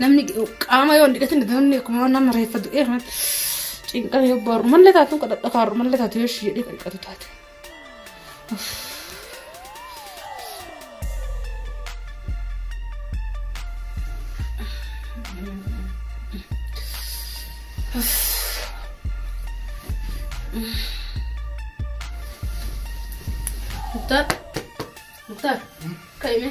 Namni qaama yoo hin dhiqatin namni akkuma nama reeffa du'ee kan cinqame yoo baaru mallee taatu kadhadha kaaru mallee taatu yoo ishii jedhee dhiqatu taate. Mutar, mutar, kaime.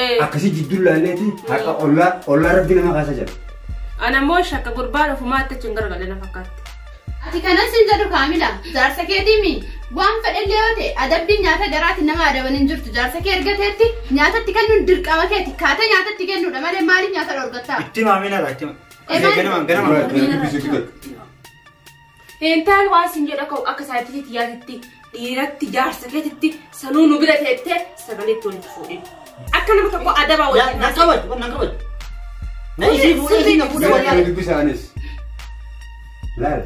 Eh, Akkasii jidduu laalleetiin haqa ollaa ollaa rabbi nama kaasa jedha. Ana immoo shakka gurbaa dhufumaa itti achi hin gargalle na fakkaatti. Ati kanas hin jedhu kaamila. Jaarsa keetiimi. Waan fedhellee yoo ta'e adabbiin nyaata garaatti nama adaban hin jirtu. Jaarsa kee ergateetti nyaatatti kennuun dirqama keeti. Kaata nyaatatti kennuudha malee maaliif nyaata dhorgattaa? Itti maamina laachima. Eh, maal- Ganama ganama. Dubbisuutu gad. Heentaan waan sin jedha ka'u akka saayititii tiyyaatitti dhiiratti jaarsa keetitti sanuu nu bira teettee sagalee itti walitti fuudhin. Akka nama tokko adabaa Yaa, waliin na qabad, wan na qabad. Na ishii fuudhee ishii na fuudha Mee wallaahi. dubbisaanis. Laal.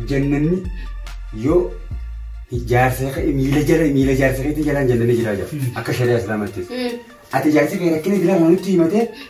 Jannanni yoo ijaarsa kee miila jala miila ijaarsa keetii jalaan jannanni jiraa jira. Akka shari'aa islaamaattis. Ati ijaarsa kee rakkina biraa nutti himatee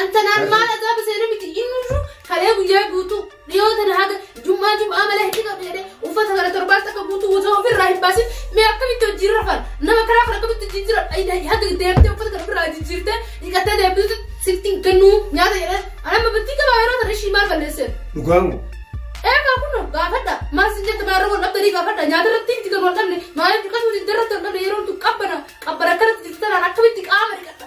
Anta naan maal azaaba seenaa miti inni jiru kalee guyyaa guutuu dhiyoo tana haga jummaa jum'aa malee hin dhiqatu jedhee uffata kana torbaan takka guutuu guutuu ofirraa hin baasin mee akkamitti hojii irra fana nama karaa kana akkamitti hojii jira ayidaa haga deemtee uffata kana ofirraa jijjiirtee dhiqattee deemtuutu sitti hin kennuu nyaata jedhee anamma battii qabaa yeroo tana ishii maal balleesseef. Dhugaamu. Eegaa kun gaafadha maal sin jette maal irra wal dhabdanii gaafadha nyaata irratti miti kan wal dhabne maaliif dhiqatuu didda irratti wal dhabne yeroo tun qabbana qabbana akkanatti jirtu tanaan akkamitti qaama dhiqatta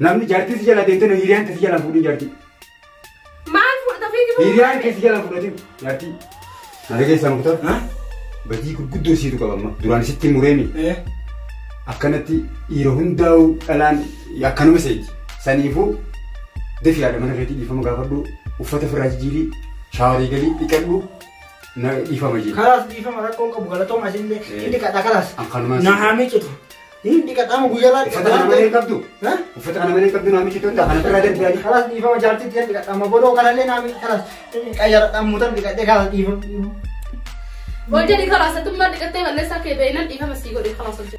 Namni jartii si jala deemtee hiriyaan tee si jala fuudhin jartii. Maal fudhata fiigitu? Hiriyaan kee si jala fudhatin jartii. Nana keessaa muktar. Badii gurguddoo siitu qabamma. Duraan sitti mureemi. Akkanatti dhiira hundaa'uu dhalaan akkanuma seeji. Saniifuu defi yaada mana keetii dhiifama gaafadhu uffata firraa jijjiirii shaawarii galii dhiqadhu na dhiifama jedhe. Kalaas dhiifama rakkoon qabu galatooma isinillee inni kadha kalaas. Akkanumaan Na haa miicitu. Hin dhiqatamu guyyaa irraa Uffata kana malee hin qabdu. Ha? Uffata kana malee hin qabdu naamichi tun kana irraa darbiyaadhi. Kalas dhiifama jaartitti hin dhiqatama godoo kanallee naami kalas qayyaradhaan mutan dhiqadhee kalas dhiifama. Wal jedhi karaa sattummaa dhiqattee balleessaa kee beeynan dhiifama sii godhe karaa sochii.